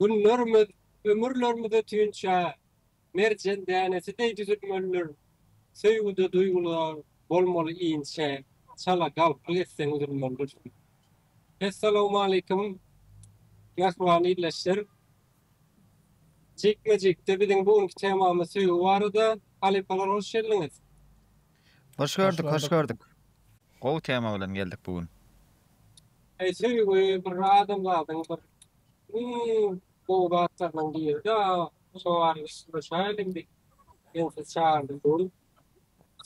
Günlerimiz, ömürlerimize tünçe merjen dänesi deý düzülmelidir, söýgüde duýgular bolmaly inçe, çala galplyk etseň üzülmelidir. Essalawmaleýkim mähriban ildeşler! Jikme-jikde biziň bu günki temamyz söýgi barada. Halypalar hoş geldiňiz! Hoş gördük, hoş gördük. Gowy tema bilen geldik bu gün. Eý söýgi bir adamzadyň bir iň gowy zatlarynyň biri-de şo barada syzlaşaýyl indi. Men sizi çagyrdyp durun.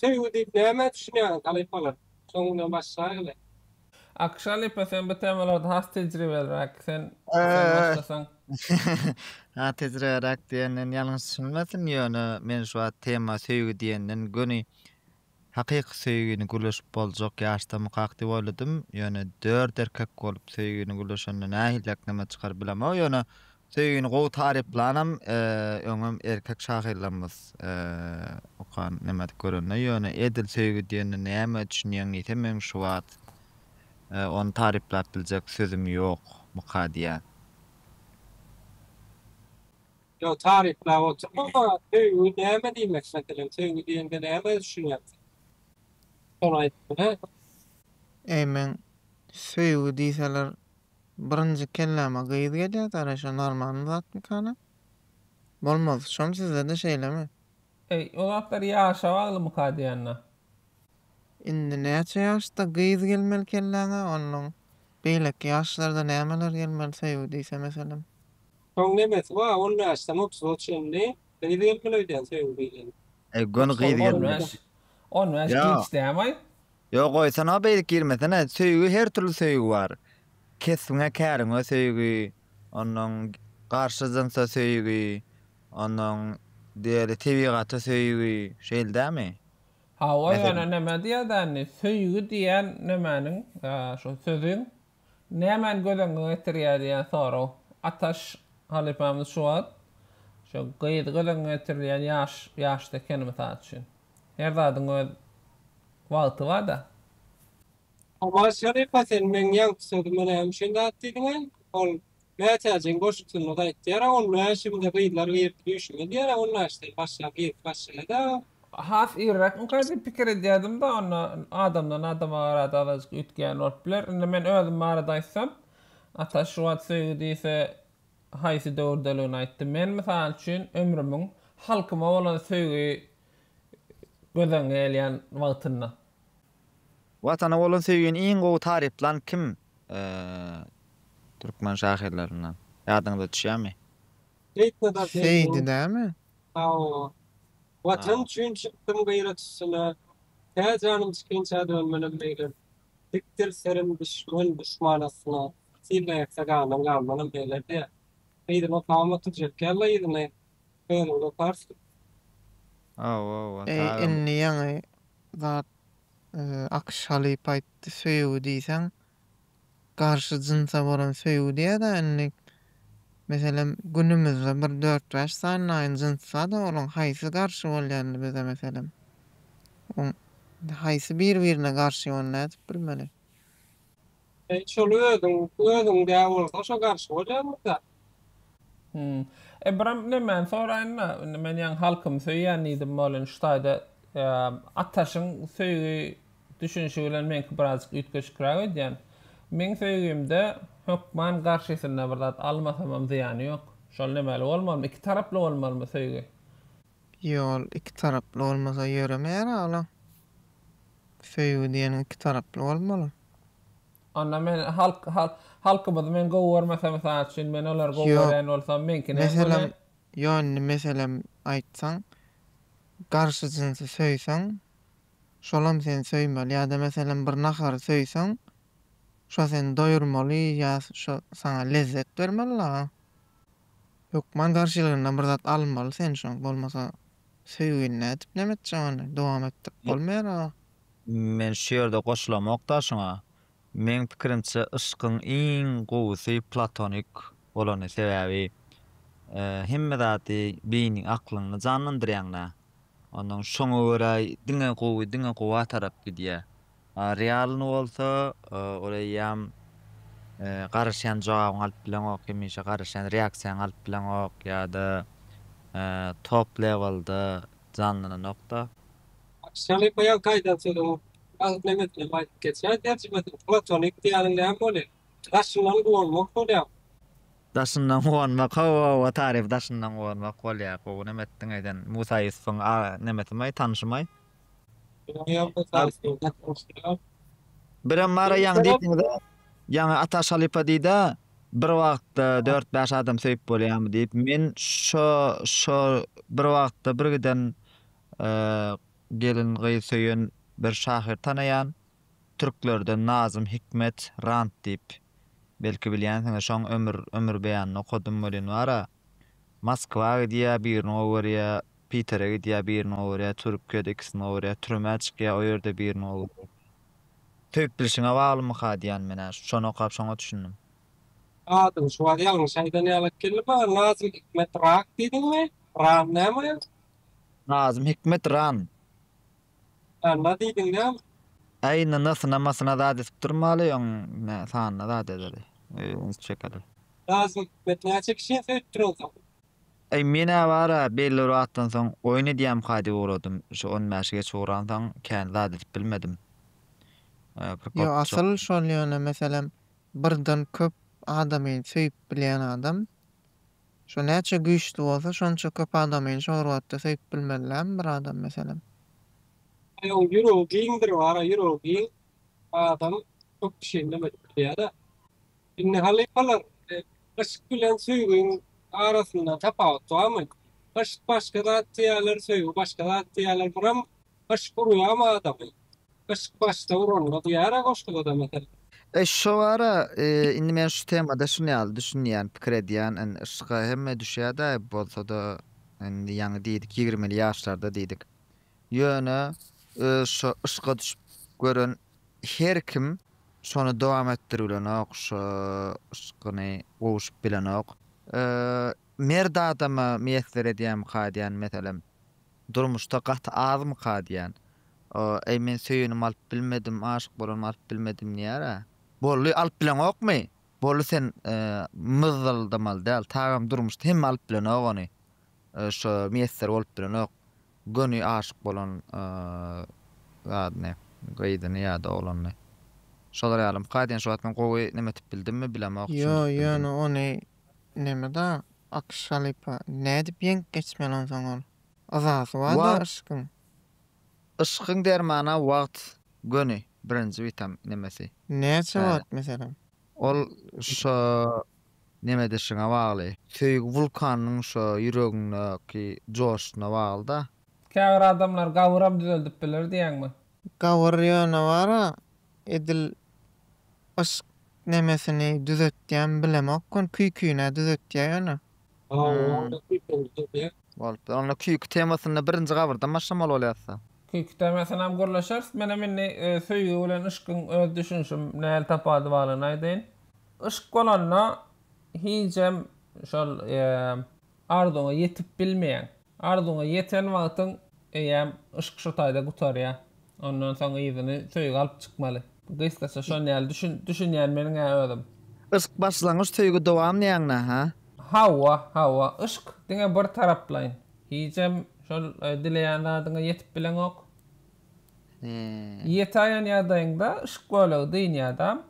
Söýgi diýip nämä düşünýäňiz halypalar? Soň bilen başlaýyl-le. Akşalipa sen bu temalarda has tejribeliräk sen sen başlasaň. Has tejribeliräk diýenden ýalňyş düşünilmesin ýöne men şu wagt tema söýgi diýenden göni hakyky söýgini gürleşip boljak ýaşda mykak diýip oýladym ýöne dört erkek bolup söýgini gürleşende nähiliräk näme çykar bilemok ýöne Söýgini gowy taryplanam öňem erkek şahyrlarymyz okan nemedik görende ýöne edil söýgi diýende näme düşünýäň diýse meň şu wagt ony taryplap biljek sözüm ýok muka diýýän. Ýok taryplap oturma söýgi näme diýmek meselem söýgi diýende näme düşünýäň sen şony aýt bize. Eý meň söýgi diýseler Birinji kelläme gyz gelýär gaýra şo normalny zatmykana? Bolmaz şom sizede şeýlemi? Eý o zatlar ýaşa baglymyka diýende. Indi näçe ýaşda gyz gelmeli kelläňe ondan beýleki ýaşlarda nämeler gelmeli söýgi diýse meselem. Şoň nemesi ba on bäşden otuza çenli gyz gelmeli öýdýän söýgi diýlende. Eý göni gyz gelmeli. On bäş on bäş giç dämaý. Ýo goýsana beýdip girmesene söýgi her türli söýgi bar kesbiňe käriňe söýgi onnoň garşy jynsa söýgi onnoň diýeli tebigata söýgi şeýldämi Hawa ýöne neme diýýädä indi söýgi diýýän nemäniň şo sözüň Nämäni göz öňüňe getirýär diýen sorag Ataş halypamyz şu wagt şo gyz göz öňüňe getirilýär ýaş ýaşda ekeni mysal üçin. Her zadyň öz wagty barda. Ataş halypa sen meň ýaňky sözüme näme üçin zat diýdiňä? Ol Mätäjiň goşgusynda da aýtýar-a, ol mäşimde gyzlar girip düýşüme diýer-ä, ol mäşden başlap girip başlaýar-a. Has irräkmikä diýip pikir edýärdim-de, onda adamdan adama garada azajyk üýtgän bolup biler. Indi men özüm barada aýtsam, Ataş şu wagt söýgi diýse, haýsy döwürdeligini aýtdy. Men, mysal üçin, ömrümiň halkyma bolan söýgi göz öňüne gelýän wagtynda. Watana bolan söýgini iň gowy taryplan kim türkmen şahyrlaryndan? Ýadyňyza düşýärmi? Seýdi dämi? Hawa. Watan üçin çykdym gyrat üstüne, Tä janym çykyňça dönmenem meýlem. Dikdir serim düşmän duşman astyna, Sylda ýatsa ganym galmanem meýlem diýýär. Seýdiniň kawamy tüjek ýallaýyzyny Öňüňde parski. Aw aw Ata Eý agam. indi ýaňy zat Akyş halypa aýtdy söýgi diýseň garşy jynsa bolan söýgi diýädä indi meselem günümizde bir dört bäş sanylaýyn jyns barda olaň haýsy garşy bolýa indi bize meselem haýsy bir birine garşy ony nädip bilmeli. Sen şol özüň özüňdä bolsa şo garşy bolýarmy zat. Hum. Ybram ine men soraýynda indi men ýaňy halkymy söýýän diýdim bolin şu taýda Ataşyň söýgi düşünişi bilen meňki birazjyk üýtgeşikräk öýdýän. Meň söýgimde hökman garşysynda bir zat almasamam zyýany ýok. Şol nämäli bolmalymy iki taraply bolmalymy söýgi. Ýol iki taraply bolmasa ýöremeýär aglam. Söýgi diýeniň iki taraply bolmaly. Onda men halk halkymyzy men gowy görmesem mysal üçin men olary gowy görýän bolsam meňkini hem meselem ýok indi meselem aýtsaň garşy jynsy söýseň şolam seni söýmeli ýa-da meselem bir nahary söýseň şo seni doýurmaly ýa şo saňa lezzet bermeli dagy Hökman garşylygyndan bir zat almaly sen şoň bolmasa söýgini nädip neme etjek ony dowam etdirip bolmaýar aga. Men şu ýerde goşulamokda şuňa. Meň pikirimçe yşkyň iň gowusy platonik bolany sebäbi hemme zady beýniň aklyňny janlandyrýaňda ondan şoňa görä diňe gowy diňe gowa tarap gidýär. Realny bolsa ol eýýam garaşýan jogabyňy alyp bileňok, hemişe garaşýan reaksiýaňy alyp bileňok ýa-da top lewelda janlanan nokta. Şaly goýan gaýdan sözüň agyz memesine baýdyp geçýär. Terjimesi platonik diýýäniň näme bolýar? Daşyndan guwanmak bolýarmy? Daşyndan guwanmak, hawa-hawa, taryp daşyndan guwanmak bolýar. Gowy neme etdiň eýsem. Musa Ýusubyň nemesimi, tanşymy? Birem bar-a ýaňy diýseňiz-ä, ýaňy Ataş halypa diýdi-ä, bir wagtda dört-bäş adam söýüp bolýarmy diýip. Men şo, şo bir wagtda bir giden gelin gyz söýen bir şahyr tanaýan. Türklerden Nazym Hikmet Rant diýip, belki bilýänsiňiz. Şoň ömür, ömür beýanyny okadym welin bar-a. Moskwa gidýä birini gowerýä Pitere gidýä birini gowerýä Türkiýede ikisini gowerýä türmä çykýa o ýerde birini gowerýä Söýüp bilşiňe baglymyka diýän men hä şony okap şoňa düşündim. Adyň şu bar ýalňyş aýdan ýalak geldi maňa Nazym Hikmet Rak diýdiňmi? Ran näme? Nazym Hikmet Ran Alla diýdiň näme? Äý nynasyna masyna zat edip durmaly öň nä sanyna zat edeli. Öýüňiz çekeli. Nazym hikmet näçe kişini söýüpdir onsoň. Äý men ä bara belli bir wagtdan soň oýun edýäm ka diýip ugradym şu on bäşi geç ugransoň kän zat edip bilmedim. Yo asyl şol ýöne meselem birden köp adamy söýüp bilýän adam Şu näçe güýçli bolsa şonça köp adamyny şo rwatda söýüp bilmelilämi bir adam meselem. Aý ol ýüregi giňdir bara ýüregi giň adam köp kişini neme edip bilýäda. Indi halypalar yşk bilen söýgiň arasynda tapawut barmy? Yşk başga zat diýýäler söýgi başga zat diýýäler buram Yşk urýamy adamy? Yşk başda uranda duýara goşgudada meselem. Eş şowara indi men şu temada şun ýaly düşünýän pikir edýän indi yşka hemme düşýädä bolsada indi ýaňy diýdik ýigrimili ýaşlarda diýdik ýöne öz şo yşka düşüp gören her kim şony dowam etdiribilenok şo yşkyny gowuşyp bilenok merd adama miýesser edýämika diýen meselem Durmuşda gaty azmyka diýýän. Eý men söýenim alyp bilmedim, aşyk bolanym alyp bilmedim diýýär-ä. Bolly alyp bileňokmy? Bolly sen myzzyldamaly däl tagam durmuşda hemme alyp bilenok ony. Şo miýesser bolup bilenok göni aşyk bolan zadyny, gyzyny ýa-da oglanyny. Şolar ýalymyka diýýän şu wagt men gowy nemetip bildimmi bilemok, Ýo ýöne ony Neme da Akyş halypa, nädip ýeňip geçmeli onsoň ol? Yzasy bar-da yşkyň. Yşkyň dermana wagt göni birinji witam nemesi. Näçe wagt meselem? Ol şo nemedişiňe bagly. Söýgi wulkanynyň şo ýüregiňdäki joşşuna bagly-da. Käbir adamlar gabyram düzeldip biler diýýäňmi? Gabyr ýöne bar-a, Edil yşk nemesini düzetýän bilemok kon küýküne düzetýä ýöne. Ha onda küýküni düzedýä. Bolupdyr. Onda küýki temasynda birinji gabyrdan başlamaly bolýarsa. Küýki temasynam gürleşeris. Menem indi söýgi bilen yşkyň öz düşünişim näl tapady balyny aýdaýyn. Yşk bolanda hijem şol Arzuňa ýetip bilmeýäň. Arzuňa ýeten wagtyň eýýäm yşk şu taýda gutarýar. Ondan soň yzyny söýgi alyp çykmaly. Gysgaça şon ýaly düşün düşünýän meniň-ä özüm. Yşk başlangyç söýgi dowam diýäňdä ha? Hawa, hawa. Yşk diňe bir taraplaýyn. Hijem şol dileýän zadyňa ýetip bileňok. He. Ýetäýen ýagdaýyňda yşk bölegi dynýadam.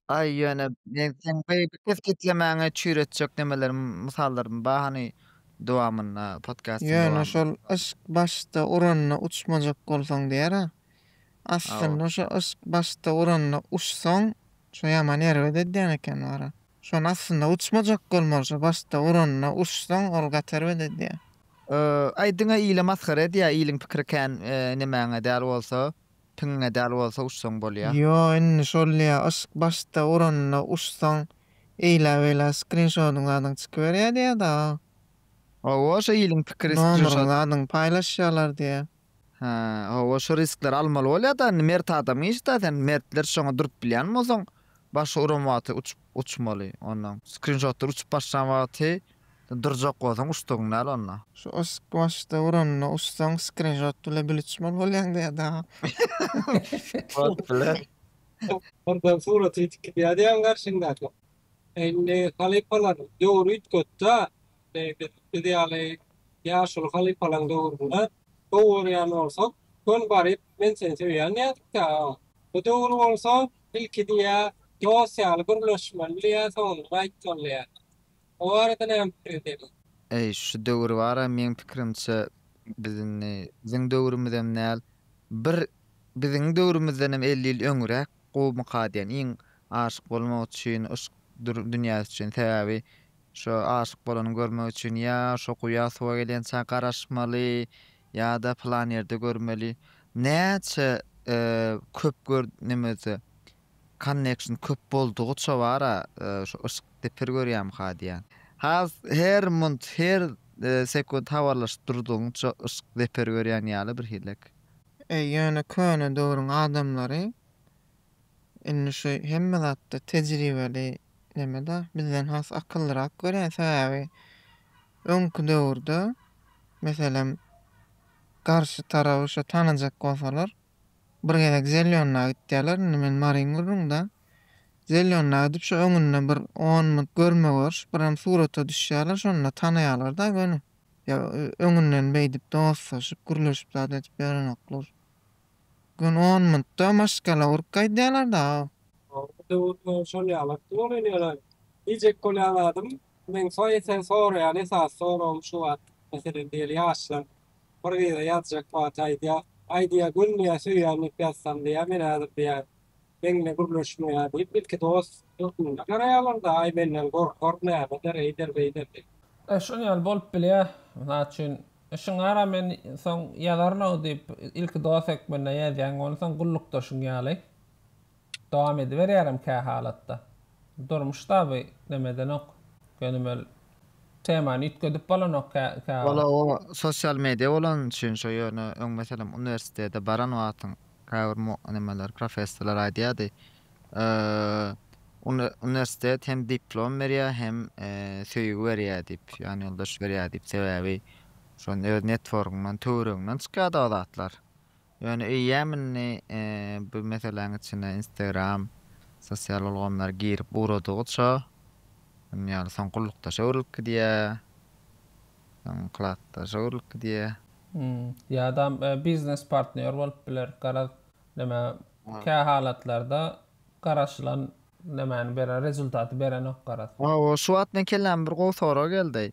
Aý, ýöne men seň beýik kesgitlemäňi çüýretjek nemelerim, mysallarym bar hany dowamynda, podkastyň Ýöne dowamynda. şol yşk başda uranda uçmajak bolsaň diýer-ä. Hawa. Aslynda şo yşk başda uranda uçsaň, şo ýaman erbet edýän eken wara. Şony aslynda uçmajak bolmaly şo başda uranda uçsaň ol gaty erbet edýär. Aý diňe ile masgara edýä iliň pikiri kän nemäňe däl bolsa. Piňňe däl bolsa uçsaň bolýa. Ýo indi şolýa yşk başda uranda uçsaň eýla beýla skrinşodyň zadyň çykyberýä diýä daga. Hawa şo iliň pikiri skrinşot. Nomeryň zadyň paýlaşýalar diýä. Hä hawa şo riskleri almaly bolýa da indi mert adam iş da sen mertler şoňa durup bilýän bolsaň başy uran wagty uçup. Uçmaly ondan. Skrinşotlar uçup başlan wagty durjak bolsaň uçdugyň däl onda. Şu yşk başda uranda uçsaň skrinşot bile bil uçmaly bolýaň diýýä dagy. Bot bile. Ondan surat ýitip gidýär diýýäň garşyňdaka. Indi halypalar döwri üýtgetdä. Indi biz ýaly ýaşuly halypalaň döwründe gowy görýän bolsak, göni baryp men seni söýýän diýerdik-dä. Bu döwür bolsa Ilki diýýä, dos ýaly gürleşmeli diýýä, soňundan aýtmaly diýýä. O barada näme pikiriň seniň? Eý, şu döwür bar-a, meň pikirimçe, biz indi, biziň döwrümizem däl, bir biziň döwrümizdenem elli ýyl öňräk gowy mykar diýen. Iň aşyk bolmak üçin, yşk dünýäsi üçin. Sebäbi şo aşyk bolany görmek üçin ýa şo guýa suwa gelýänçä garaşmaly, Ýa-da pylan ýerde görmeli. Näçe köp gör nemese connection köp boldugyça bar-a şu yşk depir görýämka diýýän. Has her munt her sekunt habarlaşyp durdugyňça yşk deper görýän ýaly birhilek. Eý ýöne köne döwrüň adamlary indi şu hemme zatda tejribeli neme-da bizden has akyllyrak görýän sebäbi Öňki döwürde, meselem, garşy taraby şo tanajak bolsalar, bir gezek Zelýonnaga gitýärler, indi men Maryň gyrrynda. Zelýonnaga gidip, şo öňünde bir on minut görme-görüş, birem surata düşýärler, şonda tanaýarlar-da göni. Ýa öňünden beýdip dostlaşyp, gürleşip zat edip ýörenoklar. Göni on minutda maşgala urup gaýdýarlar-da. Soňky döwürde şol ýalakdy bolýan ýöne diýjek bolýan zadym, Meň soýesen soraýan esasy soragym şu wagt, meselem diýeli ýaşlar bir gyza ýazjak wagty aýdýar, Aý diýýär, gülmeýär, söýýän diýip ýazsam diýýär, men häzir diýýär, meňle gürleşmeýär diýip, ilki dost hökmünde garaýarlar-da, aý menden gorkar, nämedir, eýder, beýder diýip. E, şonuň ýaly bolup bilýär. Mysal üçin, Işiň bara, men soň ýazaryn-ow diýip, ilki dost hökmünde ýazýaň, onsoň gullukdaşyň ýaly. Dowam ediberýärem kähalatda. Durmuşda bu nemedenok, gönümel temany üýtgedip bolanok käwagt. Ol-a o sosial media bolany üçin şo ýöne öň meselem uniwersitete baran wagtyň käbir mu nemeler professorlar aýdýardy uni uniwersitet hem diplom berýär hem söýgi berýär diýip ýanýoldaş berýär diýip sebäbi şonda öz networgyňdan töweregiňden çykýardy o zatlar Ýöne eýýäm indi bu meseläň içine Instagram, sosial ulgamlar girip ugradygyça, indi ýaly soň gullukdaşa öwrülip gidýär, soň klasdaşa öwrülip gidýär. Ýa-dam biznes partnýor bolup biler. Garaz, näme, kä halatlarda garaşylan nämäni beren, rezultaty berenok garaz. Hawa, şu wagt meň kelläme bir gowy sorag geldi.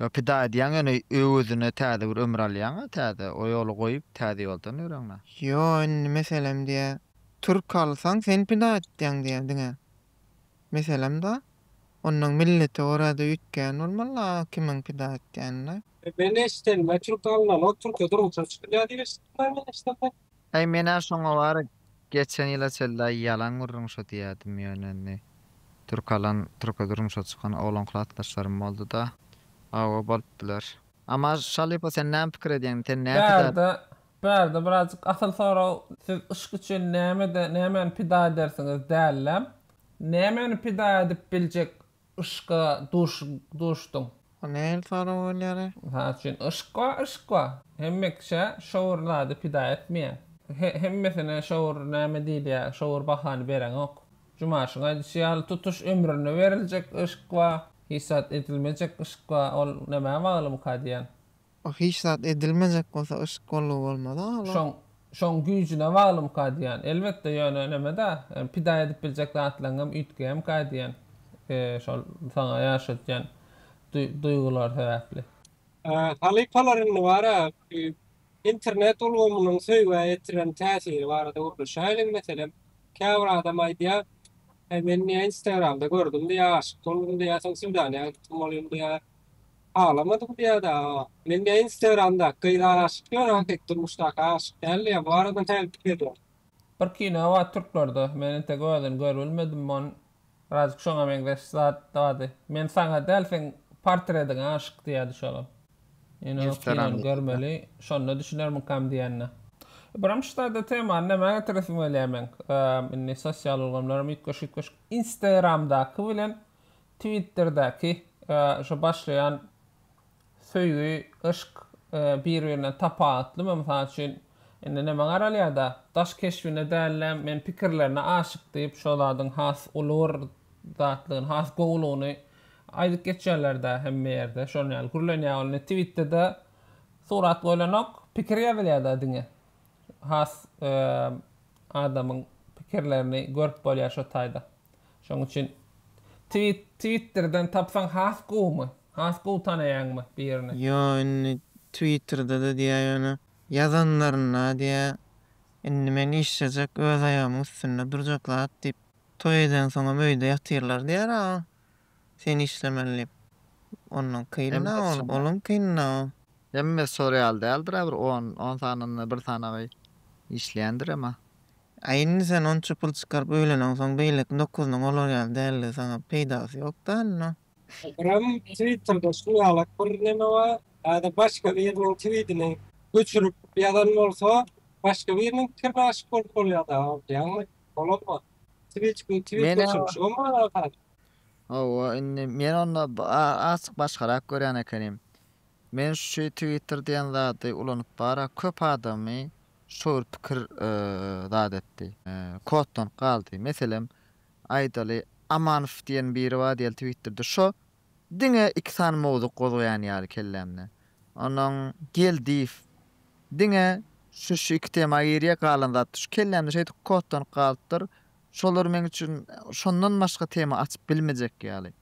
Ýa pida edýäň ýöne öwezine täze bir ömür alýaňa täze o ýoly goýup täze ýoldan ýöreňä. Ýo indi meselem diýä türk alsaň sen pida etýäň diýä diňe meselem da onnoň millete görä-de üýtgän bolmaly a kimiň pida etýänine. Men eşidenime türk alnaly o türke durmuşa çykylýa diýip eşitdim men eşidemde. Aý menä şoňa bary geçen ýyla çelda ýalan gürrüň şo diýädim ýöne indi türk alan türke durmuşa çykan oglan klasdaşlarym bolduda hawa bolup biler. Amma Şalypa sen näme pikir edýäň sen näme pida edýäň. Bärde bärde birazjyk asyl sorag siz yşk üçin nämede nämäni pida edersiňiz dälläm nämäni pida edip biljek Yşka duş duşduň. Bu nähili sorag bolýara? Mysal üçin yşk wa yşk wa. Hemme kişä şowur zady pida etmeýär. He hemmesine şowur näme diýilýä şowur bahany bereňok. Jumaşyň aýdyşy ýaly tutuş ömrüne beriljek yşk wa hisat edilmejek yşk wa ol nämä bagly buka diýän. Wah hiç zat edilmejek bolsa yşk bolgy bolmaz ala. Şoň şoň güýjüne baglymyka diýýän. Elbetde ýöne nemeda pida edip biljek zatlaryňam üýtgeýämika diýýän. Şol saňa ýaşatýan duýgular sebäpli. Halypalar indi bara internet ulgamynyň söýgä ýetiren täsiri barada gürleşäýeliň meselem käbir adam aýdýar Heý men niýe instagramda gördüm diýýär aşyk boldum diýýär soň swidanýa gitdim bolýum diýýär. Aglamadyk biada men näe instagramdaky gyza aşyk diýýän hakyky durmuşdaky aşyk däldi ýa bu arada näme pikir ediň. Bir kino bar türklerde men entek özini görbilmedim on birazcık şoňa meňzeş zat bardy men saňa däl seň portrediňe aşyk diýýärdi şolam men o kinony görmeli şonda düşünermikam diýende. Birinji sada temany nämä getiresim gelýär meň indi sosial ulgamlaram üýtgeşik üýtgeşik instagramdaky bilen Twitterdäki şu başlaýan söýgi, yşk bir-birinden tapawutlymy? Mysal üçin, indi näme garalýar-da, daş keşbine däl-de, men pikirlerine aşyk diýip, şo zadyň has uly bir zatlygyny, has gowulygyny aýdyp geçýärler-dä hemme ýerde. Şonuň ýaly gürlenýär ol. Twitterde surat goýlanok, pikir ýazylýar-da diňe. Has adamyň pikirlerini görüp bolýar şo taýda. Şoň üçin tweet twitterden tapsaň has gowumy? Has gowy tanaýaňmy birini? Ýo indi twitterda-da diýýä ýöne. Ýazanlarynda diýýä indi men işlejek öz aýagymyň üstünde durjak zat diýip toý edensoňam öýde ýatyrlar diýýär aga Sen işlemeli diýip. Ondan kynna ol, olam kynna. Hemme sor ýaly däldir-ä bir on, on sanynda bir sanagy işleýändir ema. Aý indi sen onça pul çykaryp öýleneňsoň beýleki dokuzynyň olar ýaly däldigi saňa peýdasy ýok däl no. Ekrem twitterda şu ýalak bir neme bar ýa-da başga biriniň twidini göçürip ýazan bolsa başga biriniň pikirine aşyk bolup bolýada aýdýaňmy? Bolanok. Twitçiň twit göçürip şo mu alakasy? Hawa, indi men onda azjyk başgarak görýän ekenim. Men şu Twitter diýen zady ulanyp barak köp adamy şo bir pikir zat etdi. Koddan galdy. Meselem, aýdaly, Amanow diýen biri bar diýeli Twitterde. Şo diňe iki sany mowzuk gozgaýan ýaly kellämde. Onnoň Geldiýew diňe şu-şu iki tema girýär, galan zat şu. Kellämde şeýdip koddan galypdyr. Şolar meň üçin şondan başga tema açyp bilmejek ýaly.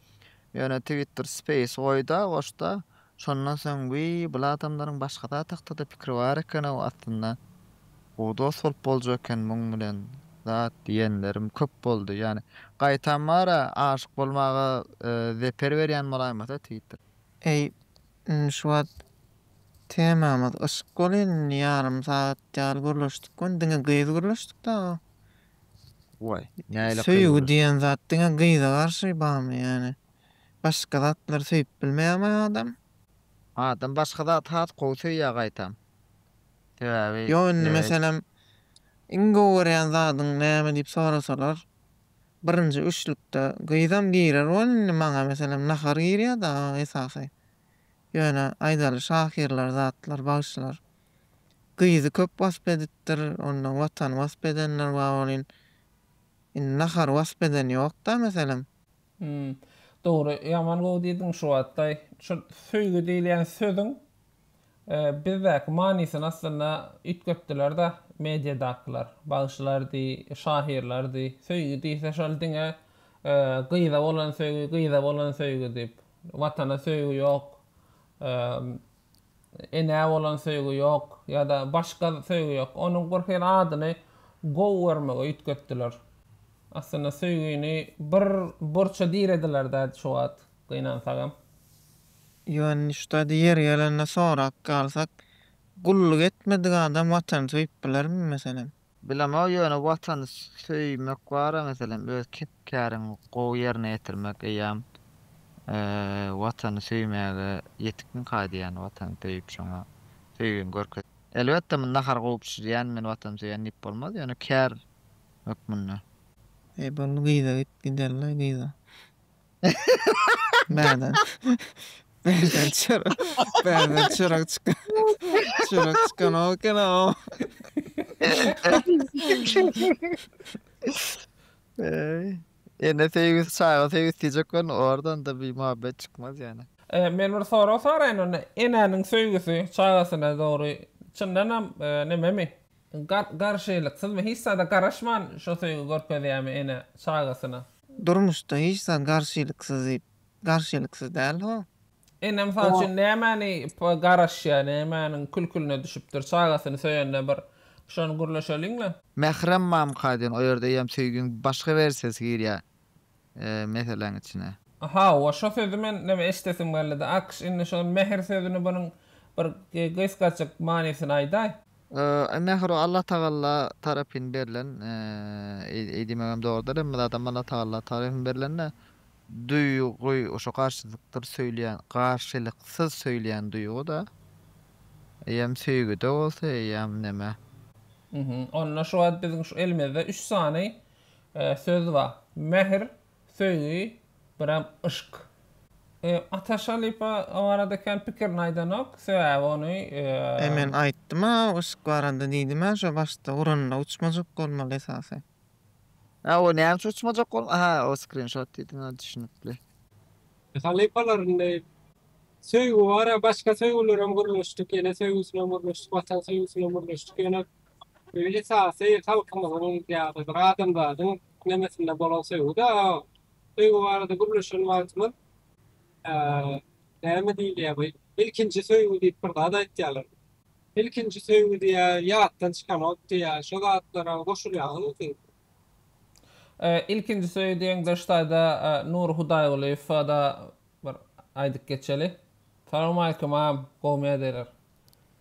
Ýöne Twitter Space goýda, goşda. Şondan soň wiý, bul adamlaryň başga zat hakda-da pikiri bar eken-ow aslynda. Gowy dost bolup boljak eken muň bilen zat diýenlerim köp boldy. Ýani gaýtam bar-a, aşyk bolmaga zeper berýän bolaýmasa Twitter. Eý, Indi şu wagt temamyz yşk bolýan indi ýarym sagat ýaly gürleşdik we diňe gyz gürleşdik daga. Waý näle gyz. Söýgi diýen zat diňe gyza garşy bamy ýani başga zatlary söýüp bilmeýämi adam. Adam başga zaty has gowy söýýä gaýtam. Sebäbi. Ýok indi meselem iň gowy görýän zadyň näme diýip sorasalar. Birinji üçlükde gyzam girer bol indi maňa meselem nahar girýär dagy esasy ýöne aýdaly şahyrlar zatlar bagşylar gyzy köp wasp edipdir onda watany wasp edenler bar welin indi nahary wasp eden ýokda meselem. Hum dogry ýaman gowy diýdiň şu wagtlaý şu söýgi diýilýän sözüň Bizdäki manysyny aslynda üýtgetdiler-de mediadakylar. Bagşylardy, şahyrlardy. Söýgi diýse şol diňe gyza bolan söýgi, gyza bolan söýgi diýip. Watana söýgi ýok, enä bolan söýgi ýok ýa-da başga söýgi ýok. Onuň bir hili adyny gowy görmege üýtgetdiler. Aslynda söýgini bir burça dirediler-dä şu wagt gynansagam. Ýöne-şda-da ýeri gelende sorap galsak, gulluk etmedik adam Watany söýüp bilermi, meselem? Bilemok, ýöne Watany söýmek bar-a, meselem, öz kep-käriňi gowy ýerine ýetirmek eýýäm Watany söýmäge ýetikmi kaý diýýän, Watany söýüp şoňa söýgüňi görkezýän. Elbetde, muny nahar kowup bişirýän men Watany söýýän diýip bolmaz, ýöne kär hökmünde. Eý, boldy gyza git, giderlaý gyza. Bärden. Bärden çörek. Bärden çörek çykan. Çörek çykan o eken o. Eee. Ene söýgüsi, çaga söýgüsi diýjek bolun, oradan-da bir muhabbet çykmaz ýöne. Eee, men bir sorag soraýyn onda, enäniň söýgüsi çagasyna dogry çyndanam nememi? Gar-garşylyksyzmy? Hiç zada garaşman şo söýgi görkezýärmi ene çagasyna? Durmuşda hiç zat garşylyksyz garşylyksyz däl ho. Indi mysal üçin nämäni garaşýa nämäniň külküline düşüpdir çagasyny söýende bir şony gürleşeliňle. Mährem mamka diýen o ýerde eýýäm söýgiň başga wersiýasy girýär meseläň içine. Hawa şo sözi men neme eşdesim geldi-de Akş indi şo mähir sözüni bunuň bir gysgajyk manysyny aýdaý. Mähru Allatagalla tarapyn berlen, eý diýmegem dogrudyr, hemme zadam Allatagalla tarapyn berlen-de, duýgy şo garşylyksyz söýülýän, garşylyksyz söýülýän duýgy-da. Eýýäm söýgüde bolsa, eýýäm neme. Onda şu wagt biziň şu elimizde üç sany söz bar. Mähir, Söýgi biram yşk. Ataş halypa o barada kän pikirini aýdanok, sebäbi ony. E men aýtdym-a yşk barada diýdim-ä şo başda uranyna uçmajak bolmaly esasy. A o näme üçin uçmajak bolmaly aha o skrinşot diýdiň a düşünipli. Halypalaryny söýgi bar-a başga söýgülerem gürleşdik ene söýgüsinem gürleşdik watan söýgüsinem gürleşdik ýöne Söýgi esasy halkymyzyň ýa-da bir adamzadyň nemesinde bolan söýgüdi. Söýgi barada gürleşen wagtymyz näme diýilýär bu ilkinji söýgi diýip bir zat aýtýarlar. Ilkinji söýgi diýýär, ýatdan çykanok diýýär. Şo zatlara goşulýaňyzmy siz? Ilkinji söýgi diýeňde ştaýda Nury Hudaýgulyýewa-da bir aýdyp geçeli. Salowmaleýkim agam, gowymy ýagdaýlar.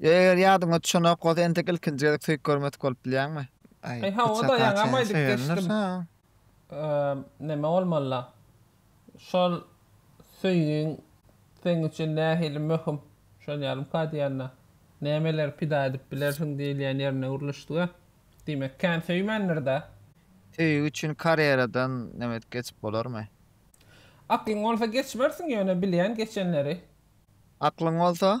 Eger ýadyňa düşenok bolsa entek ilkinji gezek söýüp görmedik bolup bilýäňmi? Aý, Aý, hawa, bıçaka daýaňam çenli aýdyp söýendir, geçdim. soň? Eee, näme bolmaly-la? Şol söýgiň seň üçin nähili möhüm? Şol ýalymka diýende, nämeleri pida edip bilersiň diýilýän ýerine gürleşdi-ä. Diýmek, kän söýmändir-dä? Söýgi üçin karýeradan näme edip geçip bolarmy? Aklyň bolsa geçmersiň ýöne bilýän geçenleri. Aklyň bolsa?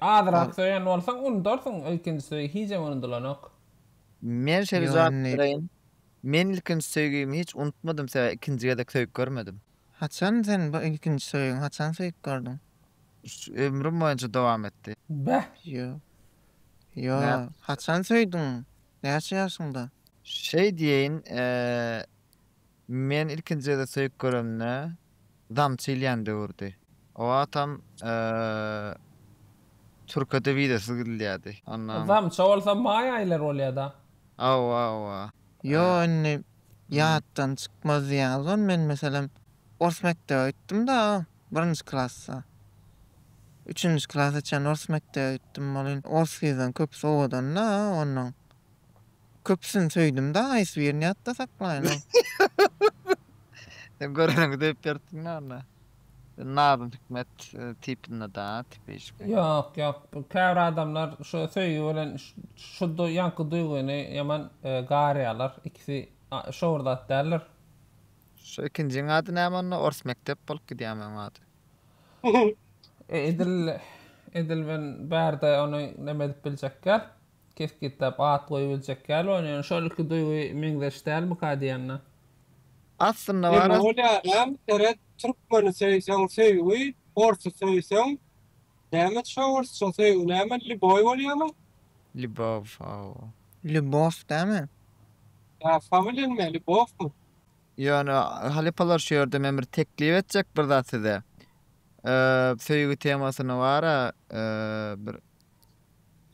Azyrak söýen bolsaň unudarsyň ilkinji söýgi hijem unudylanok. Men şeýle jogap bereýin. Men ilkinji söýgimi hiç unutmadym sebäbi ikinji gezek söýüp görmedim. Haçan sen bu ilkinji söýgiňi haçan söýüp gördüň? Ömrüm boýunça dowam etdi. Bäh. Ýok. Ýok. Haçan söýdüň? Näçe ýaşyňda? Şeý diýeýin. Men ilkinji gezek söýüp göremde damçy ilýän döwürdi. O wagtam türkede wizasyz gidilýärdi. Ondan. Damça bolsa maý aýlary bolýada. Hawa hawa. Ýo indi ýatdan çykmaz diýýäňiz gon men meselem ors mekdebe gitdimda birinji klasda. Üçünji klasa çen ors mekdebe gitdim ol indi orslydan köpüsi owadanda ondan. Köpüsini söýdümda haýsy birini ýatda saklaýynyň. Sen göreniňi döýüp ýörsiň ýaly. Sen Nazym Hikmet tipinde da tipişki. Ýok ýok käbir adamlar şu söýgi bilen şu ýaňky duýgyny ýaman garýalar ikisi şo bir zat däldir. Şu ikinjiň ady näme onda ors mekdep bolup gidýämi oň ady. Edil edil men bärde ony neme edip biljek däl. kesgitläp at goýup biljek däl ony ýöne şol iki duýgy meňzeş dälmika diýende. Aslynda bar Emma ol ýalam seret türkmeni söýseň söýgi orsy söýseň näme şo orsça söýgi näme liboý bolýamy? Libow aw. Lýubow dämi? Ýa familen me Lýubowmy? Ýöne halypalar şu ýerde men bir teklip etjek bir zat size. Söýgi temasyny bara bir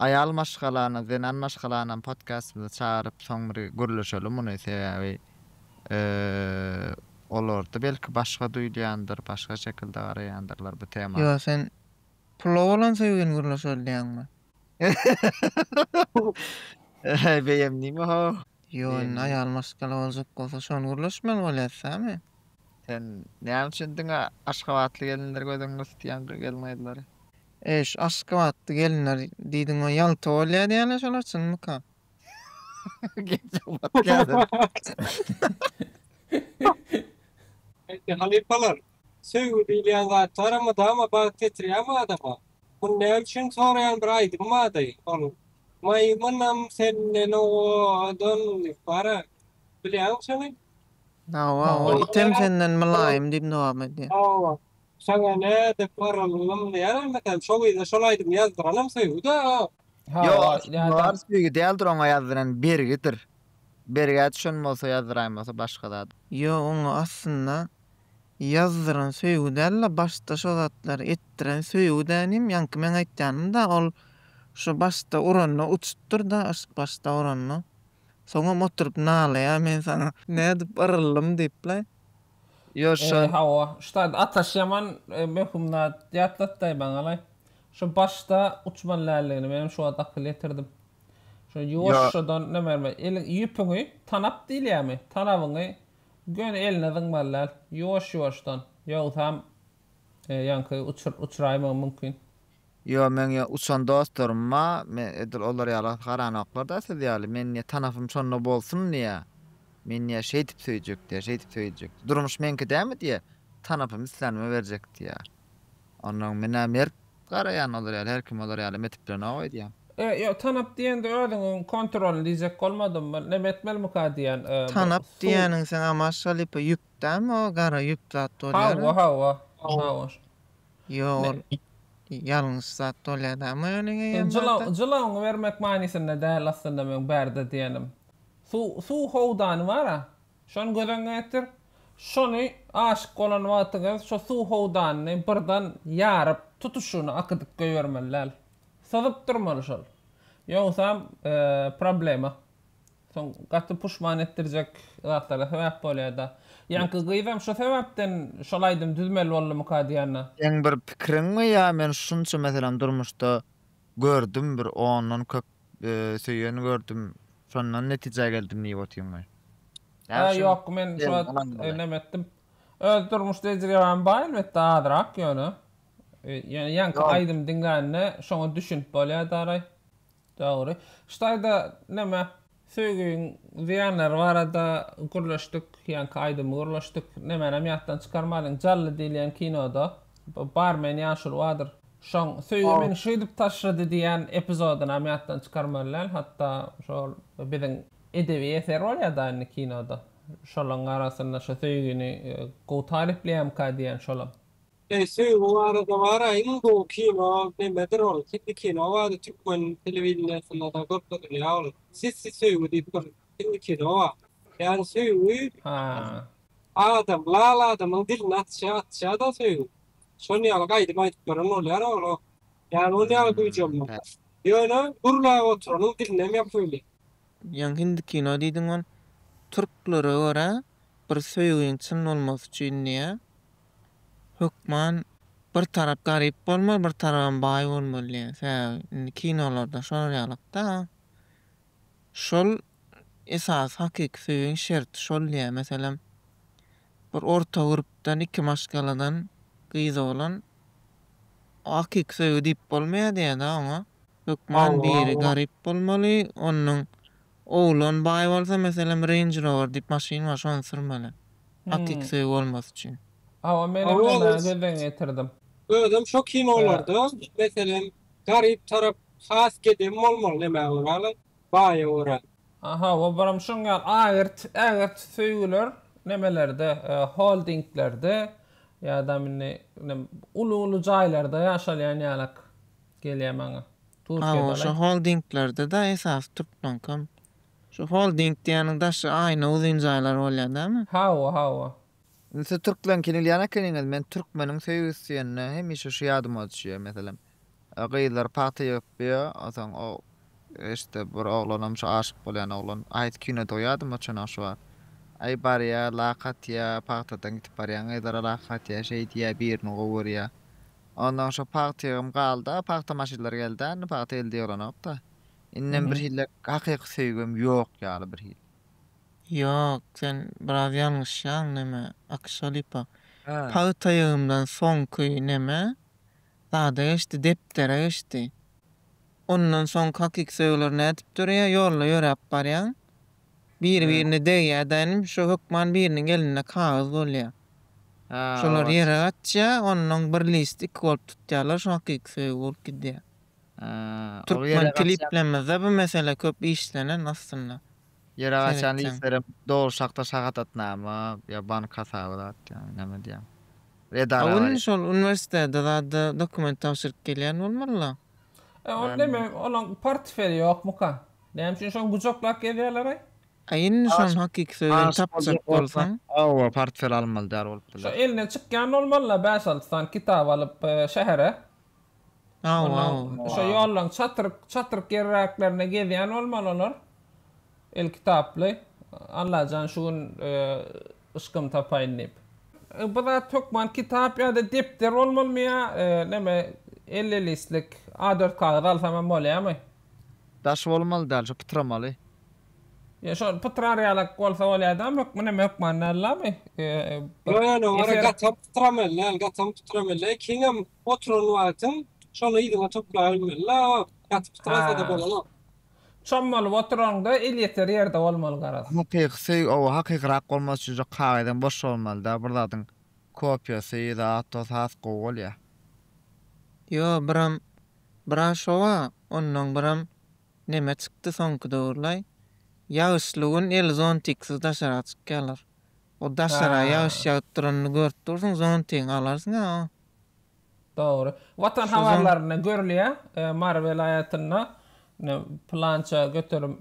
Aýal maşgalany, zenan maşgalanam podkastymyza çagyryp, soň bir gürleşeli muny. Sebäbi olarda belki başga duýulýandyr, başga şekilde garaýandyrlar bu tema. Ýo, sen pula bolan söýgini gürleşeli diýýäňmi? Beýemdimi-how? Ýo, indi aýal maşgala boljak bolsa, şony gürleşmeli bolýas, sämi? Sen näme üçin diňe aşgabatly gelinleri gözüňde tutýaň, gelin-gyzlary? Eý şu aşgabatly gelinler diýdiňow ýalta bolýa diýýäler şolar çynmyka. Eý halypalar söýgi diýilýän zat bara mydama bagt getirýämi adama muny näme üçin soraýan bir aýdym bardy ol Maýmynam senden owadan diýip bara bilýäňmi şony. Hawa hawa item senden mylaýym diýip dowam edýär. Hawa Saňa nädip garalynym diýärin mekan şo gyza şol aýdymy ýazdyranam söýgüda. Ýok Hawa aslynda nädip. bary söýgi däldir oňa ýazdyran bergidir. Bergä düşen bolsa ýazdyraýmasa başga zat. Ýok oňa aslynda ýazdyran söýgi dälde başda şo zatlary etdiren söýgüdä inim ýaňky meň aýtýanymda ol şo başda uranda uçupdyrda yşk başda uranda soňam oturyp nalaýa men saňa nädip yrylydym diýip la. Ýör şol. Hawa, ştaýt ataş ýaman möhüm zat. Ýatlatdaý maňalaý. Şu başda uçman lälligini menem şu wagt akyl ýetirdim. Şu ýuwaşjadan nämerme, eliň ýüpüňi tanap diýilýärmi, tanabyňy göni eline zyňmaly däl. Ýuwaş-ýuwaşdan, ýogsam ýaňky uçuryp uçuraýmagy mümkin. Ýo meň ýa uçan dostlarym ba men edil olar ýala garanoklarda siz ýaly men ýa tanapym şonda bolsun diýä men ýa şeýdip söýjek diýä şeýdip söýjek durmuş meňki dämi diýä tanapym islänime berjek diýä onnoň menä mert garaýan olar ýaly her kim olar ýaly metip bilenok öýdýän. E ýo tanap diýende özüňiň kontrolyny diýjek bolmadymmy neme etmelmika diýän e bu Tanap su. diýýäniň sen amaş halypa ýüp dämi o gara ýüp zat bolýara. Hawa hawa hawa. Ýo ol ýalňyş zat bolýadamy öliň eýýäm barda. Jylawyňy bermek manysynda däl aslynda meň barda diýenim. Suw howdany bar-a. Şony göz öňüňe getir. Şony aşyk bolan wagtyňyz şo suw howdanyny birden ýaryp, tutuşyna akydyp goýbermeli däl. Syzyp durmaly şol. Ýogsam problema. Soň gaty puşman etdirjek zatlara sebäp bolýar-da. Ýaňky gyzam şu sebäpden şol aýdymy düzmeli boldumyka diýýän-dä. Seň bir pikiriňmi ýa men şunça meselem durmuşda gördüm bir ondan köp söýen gördüm şondan netijä geldim diýip otyrňmy? Ýa şu Ýok men şu wagt neme etdim. Öz durmuş tejribäm bar elbetde azrak ýöne ýaňky aýdymy diňlände şoňa düşünip bolýar daraý. Dogry. Şu taýda näme, söýgiň zyýanlary barada gürleşdik, ýaňky aýdymy gürleşdik. Nämänem ýatdan çykarmadyň, Jally diýilýän kinoda bu barmen ýaşuly bardyr. Şoň Söýgi meni şeýdip taşlady diýýän epizodynam ýatdan çykarmaly däl. Hatda şol biziň edebi eser bolýar-da indi kinoda. Şolaň arasynda şu söýgini gowy tarypleýärmika diýýän şolam. Eý söýgi barada bara iň gowy kino nemedir ol hindi kino bardy türkmen telewideniýesindada görkezilýä ol sessi söýgi diýip bir hindi kino bar ýani söýgi adam lal adamyň dilini atýa atýada söýgi şon ýaly gaýdym aýdyp beren bolýar ogla ýani ol ýaly güýji olmasa ýöne gürläp oturanyň dilinem ýapyly. Ýaňy hindi kino diýdiň ol türklere görä bir söýgiň çyn bolmasy üçin diýä Hökman bir tarap garyp bolmaly bir tarabam baý bolmaly diýen sebäbi indi kinolarda şolar ýalykda şol esasy hakyky söýgiň şerti şol diýýä meselem bir orta gurpdan iki maşgaladan gyz oglan o hakyky söýgi diýip bolmaýa diýýä da oňa hökman biri garyp bolmaly onnuň Oglan baý bolsa meselem Range Rover diýip maşyn bar şony sürmeli. Hakyky söýgi bolmasy üçin. Hawa menem näme gözden geçirdim. Özem şo kinolarda meselem garyp tarap has gedem bolmaly näme göraly baýa görä. Hawa buram şoň ýaly agyrt ägirt söýgüler nemelerde holdinglerde ýadam indi uly uly jaýlarda ýaşalýan ýalak gelýä maňa. Hawa şo holdinglarda-da esasy Türkmenkam. Şu holding diýýäniň daşy aýna uzyn jaýlar bolýar dälmi? Hawa hawa. Siz türkmen kino ilýän ekeniňiz men türkmeniň söýgüsi diýende hemişe şu ýadyma düşýär meselem gyzlar pagta ýygyp ýör onsoň o işte bir oglanam şu aşyk bolýan oglan haýsy kinodygy ýadyma çynak şu wagt aý barýar lak atýar pagtadan gidip barýan gyzlara lak atýar şeý diýýär birini gowy görýär Ondan şo pagtygym galda, pagta maşynlary gelda indi pagta elde ýolanokda. Indem bir hille hakyky söýgem ýok ýaly bir hili. Ýok, sen biraz ýalňyşýaň neme, Akşa Lipa. Pagta ýygymdan soňky neme, zada geçdi, depdere geçdi. Ondan soň kakik söýgüler nädip döreýär, ýolda ýöräp barýaň. Biri birine degýärdenim şo hökman biriniň elinde kagyz bolýar. Şolar ýere gaçýar, onnoň bir list iki bolup tutýarlar şo kakik söýgi bolup gidýär. Türkmen kliplemizde bu mesele köp işlenen aslynda. Ýere gaçan listlerem dogry şahta şahadatnama ýa bank hasaby zat ýa näme diýýär. Edara bar. Indi şol uniwersitede zada dokument tabşyryp gelýän bolmalylar. E onda neme olaň portfeli ýokmyka? Näme üçin şony gujaklap gezýärler-aý? A indi şony hakyky sözden tapjak bolsaň. Hawa portfel almaly däl bolup biler. Şo elinden çykýan bolmaly-la bäş-alty sany kitap alyp şähere. Hawa. Ondan şo ýollaryň çatryk çatryk ýerräklerinde gezýän bolmaly olar. Elkitaply, Allajan şu gün yşkym tapaýyn diýip. Bu zat hökman kitap ýa-da depder bolmalymy ýa neme elli listlik A dört kagyz alsam hem bolýamy? Daş bolmaly däl, şu pytramaly. Ýa şol pytrar ýalak bolsa bolýar däl hökmi neme hökman dällami? Ýok ýok ýok ora gaty hem pytramaly däl gaty hem pytramaly kiň hem oturan wagtyň şony yzyňa toplaýabilmeli la gaty pytrasa-da bolanok. Çommalyp oturaňda el ýeter ýerde bolmaly garaz. Hakyky söýgi oba hakykyrak bolmak üçin şu kagyzam boş bolmalyda bir zadyň kopiýasy zat dos has gowy bolýa. Ýo biram Braşowa onnoň biram neme çykdy soňky döwürlaý ýagyşly gün el zontiksiz daşara çykýalar o daşara ýagyş ýagyp duranyny görüp dursuň zontigiňi alarsyňa o. Dogry. Watan habarlarynda görülýär, Mary welaýatynda pylança göterim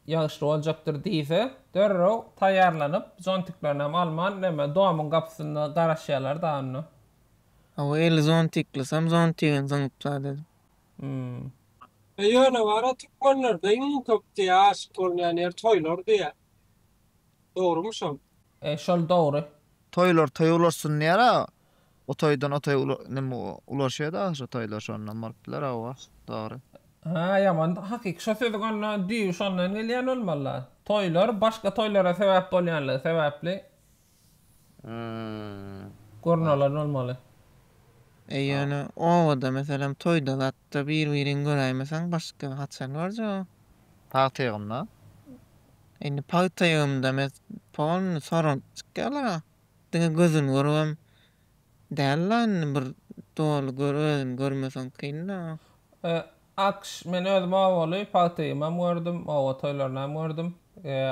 ýagyşly boljakdyr diýse, derrew taýýarlanyp, zontiklerinem alman, näme, domyň gapysynda garaşýarlar-da onda. Hawa, eli zontiklysam zontigem zyňyplar dedim. Hum. Ýöne bar-a, türkmenlerde iň köp diýýär, aşyk bolunýan ýer toýlar diýýär. Dogrumy şol? E, şol dogry. Toýlar toý ulaşsyn diýýär-a, O toýdan o toýa neme ulaşýada ahyry toýlar şondan bolup biler hawa dogry. Hä ýaman hakyky şo sözüň onda düýbi şondan gelýän bolmalyda. Toýlar başga toýlara sebäp bolýanlygy sebäpli gurnalan bolmaly. E ýöne obada meselem toýda zatda bir birini göräýmeseň başga haçan görjegin. Pagta ýygymda. Indi pagta ýygymda mes polny soralp çykýarlar a. Diňe gözün görübem däl-la indi bir doly gör özüni görmeseň kyn-da. Akş, men özüm owaly pagtygamam gördüm, owa toýlarynam gördüm.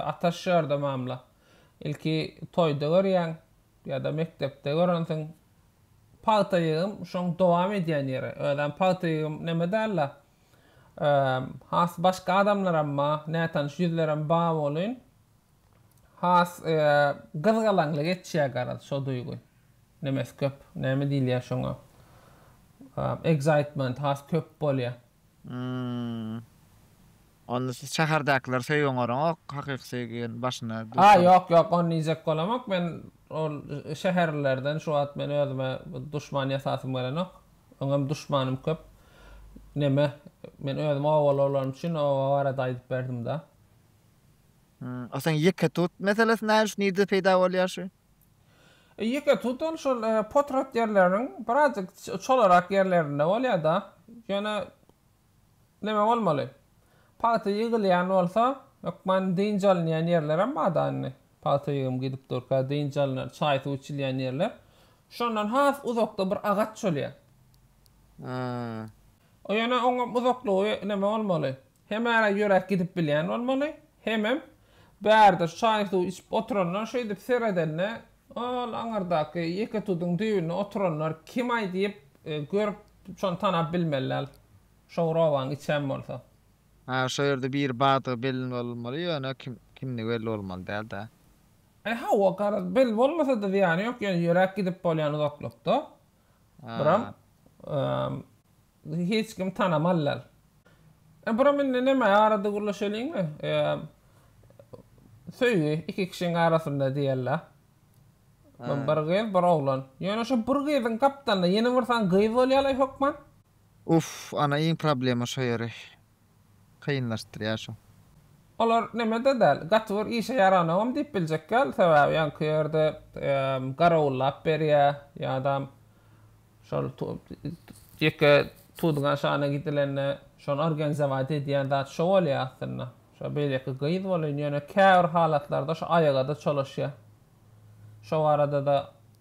Ataş ýerde mamla. Ilki toýda görýäň, ýa-da mekdepde görensiň. Pagta ýygym şoň dowam edýän ýeri. Özem pagta ýygym neme däl-la. Has başga adamlaram ba, nätanyş ýüzlerem ba bolyn. Has gyzgalaňly geçýär garaz şo duýgy. Nemes köp. Näme diýilýär şoňa? Excitement has köp bolýar. Hmmm. Onda siz şäherdäkileri söýgüň oraňok, hakyky söýgi ýöne başyna duş A ýok ýok ony diýjek bolamok men ol şäherlilerden şu wagt men özüme duşman ýasasym gelenok. Öňem duşmanym köp. Neme men özüm obaly bolanym üçin oba barada aýdyp berdimda. Asyň ýeke tut meselesi näme üçin nirde peýda bolýar şu? Ýeke tut ol şol potrat ýerleriniň birazjyk çolarak ýerlerinde bolýar-da. Ýöne näme bolmaly? Pagta ýygylýan bolsa, hökman dynç alynýan ýerlerem bar-da indi. Pagta ýygym gidip durka dynç alnar, çaý-suw içilýän ýerler. Şondan has uzakda bir agaç bolýar. Ýöne oňam uzaklygy näme bolmaly? Hemara ýöräp gidip bilýän bolmaly, hemem bärde çaý-suw içip oturanlar şeýdip seredende, ol aňyrdaky ýeke tuduň düýbünde oturanlar kim-aý diýip, görüp, şony tanap bilmeliler, şo bir obanyň içem bolsa. Hä, şo ýerde biri bardygy belli bolmaly, ýöne kim, kimdigi belli bolmaly däl-dä. Aý, hawa, garaz, belli bolmasa-da zyýany ýok, ýöne ýöräp gidip bolýan uzaklykda, bir-ä, Hiç kim tanamal dal. E buram indi neme arada gürleşeliňmi? Söýgi iki kişiň arasynda diýella. Hä. Bir gyz, bir oglan. Ýöne şo bir gyzyň gapdalynda ýene birsan gyz bolýalaý hökman. Uff ana iň problema şo ýeri. kynlaşdyrýar şo. Olar neme-de däl, gaty bir işe ýaranogam diýip biljek däl, sebäbi ýaňky ýerde garawullap berýä, ýadam şol ýeke Tudyňa şana gidilende şony organizowat edýän zat şo bolýa aslynda. Şo beýleki gyz bolýn, ýöne käbir halatlarda şo aýaga-da çolaşýa. Şo barada-da.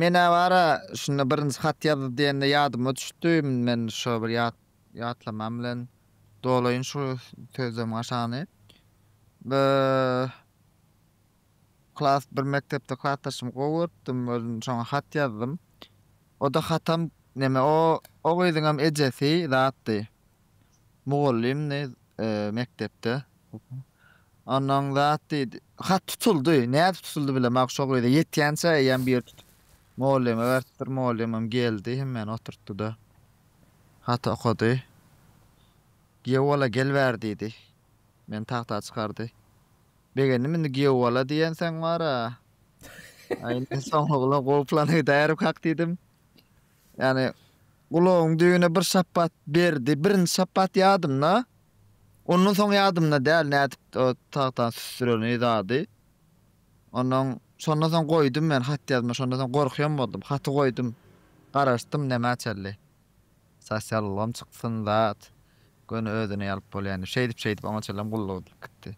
Men-ä bar-a, şunda birinji hat ýazdy diýende ýadyma düşdi, men şo bir ýat, ýatlamam bilen dolaýyn şu sözlemiň aşagyny. Bö, klas, bir mekdepde klasdaşymy gowy görüpdim, özüm şoňa hat ýazdym. O-da hatam, neme, o, o gyzyňam ejesi zatdy. Mugallym ne mekdepde. Onnoň zat diýdi. Hat tutuldy. Nädip tutuldy bilemok. Şo gyza ýetýänçä eýýäm bir tutup mugallyma beripdir. Mugallymam geldi. Hemmäni oturtdy-da. Haty okady. Giýewbala gelibäri diýdi. Meni tagta çykardy. Begendim indi giýewbala diýensoň bar-a. Aý indi soňlugyna gowy plana giderik hak diýdim. Ýagny, gulagyň düýbüne bir şapbat berdi. Birinji şapbat ýadymda. Ondan soň ýadymda däl nädip o tagta süsdüreni zady. Ondan şondan soň goýdum men hat ýazma. Şondan soň gorkýan boldum. Haty goýdum. Garaşdym nämä çenli. Sosial ulgam çyksyn zat. Göni özüni alyp bolýan diýip. Şeýdip şeýdip oňa çenlem gulluk edip gitdi.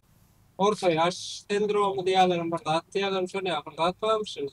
Orta ýaş sendromy diýýärlerem bir zat diýýärlerem şonuýa bir zat barmyş indi.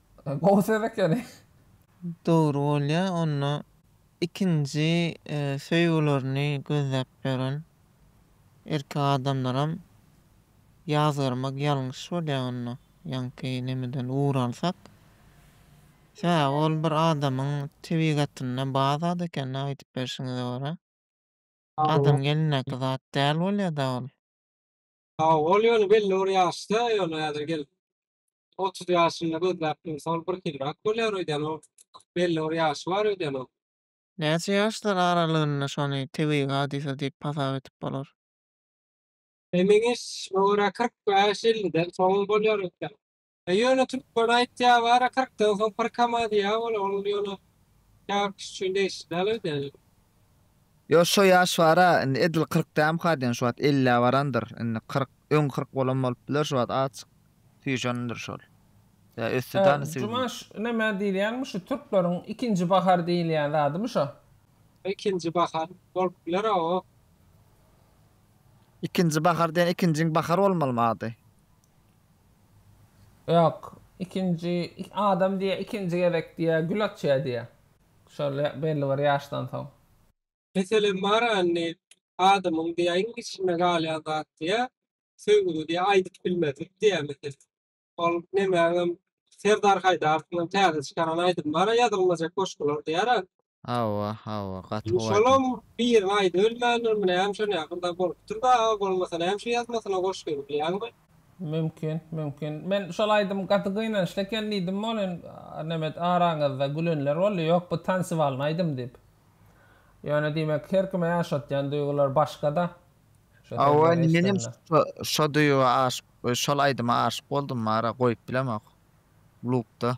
Gowy söz ekeni. Dogry bolýa onda ikinji söýgülerini gözläp ýören erkek adamlaram ýazgarmak ýalňyş bolýa onda ýaňky nemeden ugur alsak sebäbi ol bir adamyň tebigatynda bar zat eken da aýdyp berşiňize görä adam gelindäki zat däl bolýada ol. Hawa, ol ýöne belli bir ýaşda, ýöne häzir gelip otuz ýaşynda gözläp dursa, ol birhilirak bolýar öýdýän, ol belli bir ýaşy bar öýdýän ol. Näçe ýaşlar aralygynda şony tebigy hadysa diýip hasap edip bolar? Emin iş, bu görä kyrk bäş-elliden soň bolýar öýdýän. Ýöne türkmen aýtýar bara kyrk döwsüň pyr kama diýýär ol ol ýöne käbir kişi üçin degişli däl öýdýän. Ýo şo ýaş bara indi edil kyrk dämka diýen şu wagt ellä barandyr indi kyrk öň kyrk bolan bolup biler şu wagt azjyk süýşendir şol ýa ösdi da indi sigiz Jumaş nämä diýilýänmiş şu türkleriň ikinji bahar diýilýän zadymy şo. Ikinji bahar bolup biler a o. Ikinji bahar diýen ikinjiň bahar bolmalymy ady. Ýok, ikinji, adam diýýär, ikinji gezek diýýär, gül açýar diýýär. Şol belli bir ýaşdan soň. Meselem bar-a indi, adamyň diýýär, iň içinde galýan zat diýýär, söýgüni diýýär, aýdyp bilmezlik diýýär meselem. Ol nemäňem, Serdar Haýdarowyňam täze çykaran aýdymy bar-a, ýazylmajak goşgular diýýär-ä. Hawa, hawa, gaty gowy aýdym. Şonuň birini aýdybilmändir, muny hem şon ýakynda bolupdyr dagy, bolmasa näme şu ýazmasyna goşgy bilýäňmi? Mümkin, mümkin. Men şol aýdym gaty gynançly eken diýdim welin, Nemet araňyzda gülenler boldy, ýok bu tansiwalny aýdym diýip. Ýöne diýmek her kime ýaşatýan duýgular başga-da. Şo Hawa, sözleri menem eşdende. şo duýga aşyk, şol aýdyma aşyk boldum, ara goýup bilemok. Lupda.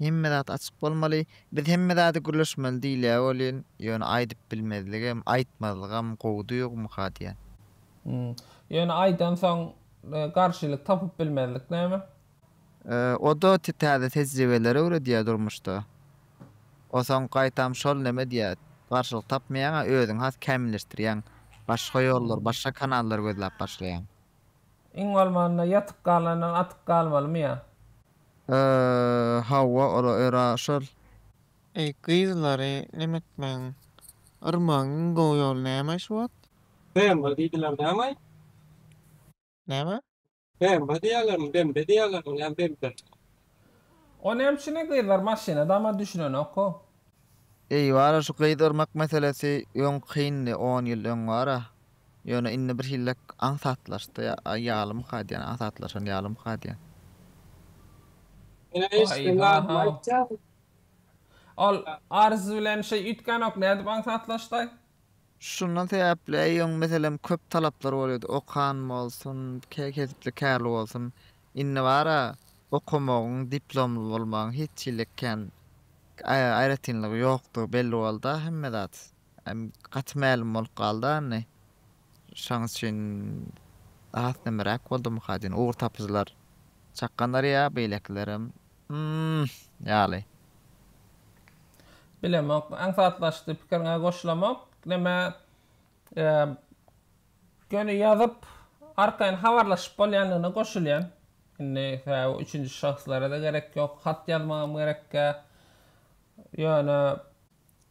Hemme zat açyk bolmaly. Biz hemme zady gürleşmeli diýilýär welin, ýöne aýdyp bilmezligem, aýtmazlygam gowy duýgymyka diýýän. Hum. Ýöne aýdansoň garşylyk tapyp bilmezlik näme? O-da täze tejribeleri öwredýär durmuşda. O soň gaýtam şol näme diýýär, garşylyk tapmaýaň-a, özüňi has kämilleşdirýäň. Başga ýollar, başga kanallar gözläp başlaýaň. Iň bolmanda ýatyp galandan atyp galmalymy ýa. Eee hawa ora öra şol. Eý gyzlary neme etmeň. Yrmagyň iň gowy ýoly näme şu wagt? Bemba diýdiler nämaý? Näme? Bemba diýýälermi, bembe diýýälermi, ýa bembe? O näme üçin ne gyzlar maşyna dama düşünenokko. Eý wara şu gyz urmak meselesi öň kyndy on ýyl öň wara ýöne indi bir hillek aňsatlaşdy ýalymyka diýen aňsatlaşan ýalymyka diýen. Waý hahaw. Ol Arzu bilen şeý üýtgänok nädip aňsatlaşdaý. Şundan sebäpli eý öň meselem köp talaplary bolýady okan bolsun kesipli kärli bolsun Indi bar-a, okamagyň, diplomly bolmagyň hiç hili kän aýratynlygy ýokdugy belli boldy-a hemme zat. Gaty mälim bolup galdy-a indi. Şonuň üçin has nemiräk boldumyka diýen ugurtapyjylar çakgandyr ýa beýlekilerem hm ýaly. Bilemok. Aňsatlaşdy. Pikiriňe goşulamok. Neme, Göni ýazyp, arkaýyn habarlaşyp bolýandygyna goşulýan. Indi sebäbi üçünji şahslara-da gerek ýok, hat ýazmagam gerekkä. Ýöne,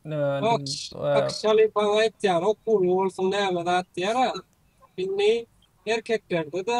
neme, Aks, Şalypaň aýtýany okuwly bolsun näme zat diýer-ä. Indi erkeklerde-de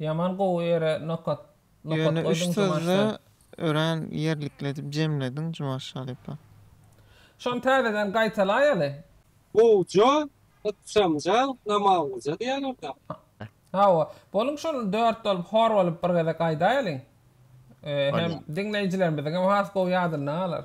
Ýaman gowy ýere nokat nokat goýduň Jumaş jan. Ýöne üç sözde örän ýerlikli edip jemlediň Jumaş halypa. Şony täzeden gaýtalaýaly. Gowja, ykjamja, namazlyja diýýärler-dä. Hawa, boluň şol dört bolup hor bolup bir gezek aýdaýalyň. Hem diňleýjilerimiziňem has gowy ýadynda galar.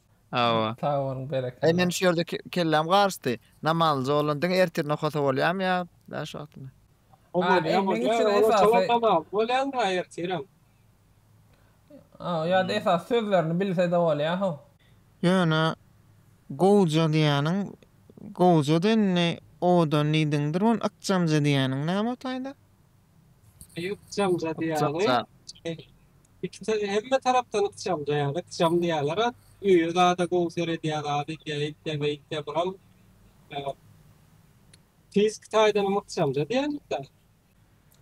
Hawa. Sag boluň, berekella. Eý meniň şu ýerde kelläm garyşdy. Namalyja bolan diňe ertirine okasa bolýamy ýa bäş wagtymy? Hol bolýa bolýa olar towar tamam bolýaňmy ýa ertirem? Hawa ýa-da esas sözlerini bilse-de bolýa how. Ýöne gowja diýýäniň gowjada indi owadan diýdiňdir ony ykjamja diýýäniň näme o taýda? Ykjam zady ýaly. Ikisi hemme tarapdan ykjam ýaly. Ykjam diýýärler. Öýe zada gowy seredýär. Ady ýa ýitýä beýtýä buram. Fiziki taýdan ykjam zady ýaly-da.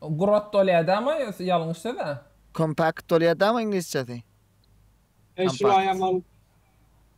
Grot dolýadamy ýa-da ýalňyş söz-ä? Kompakt dolýadamy iňlisçesi? Eý şulaýam ol.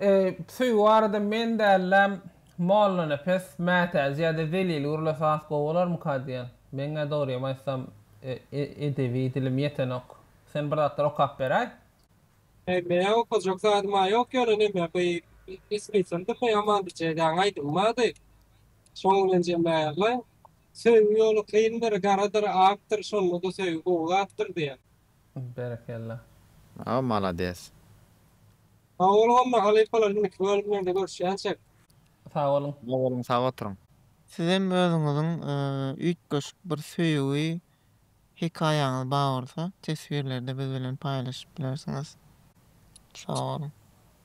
Eý, söýgi barada men däl-de, Mollanepes, Mätäji ýa-da Zelil gürlese has gowy bolarmyka diýen. Meň-ä dogrymy aýtsam, edebi dilim ýetenok. Sen bir zatlar okap beräý. Eý, meň okajak zadym-a ýok, ýöne neme, bu ismiçem dymma ýaman biçäýdäň aýdym bardy. Şoň bilenjem bärli. Söýgi ýoly kyndyr, garadyr, akdyr, şonda-da söýgi gowy zatdyr diýen. Berekella. Aw malades. Sag boluň onda halypalar indiki bölümlerde görüşýänçek. Sag boluň. Sag boluň sag oturyň. Sizem özüňiziň üýtgeşik bir söýgi hekaýaňyz ba bolsa teswirlerde biz bilen paýlaşyp bilersiňiz. Sag boluň.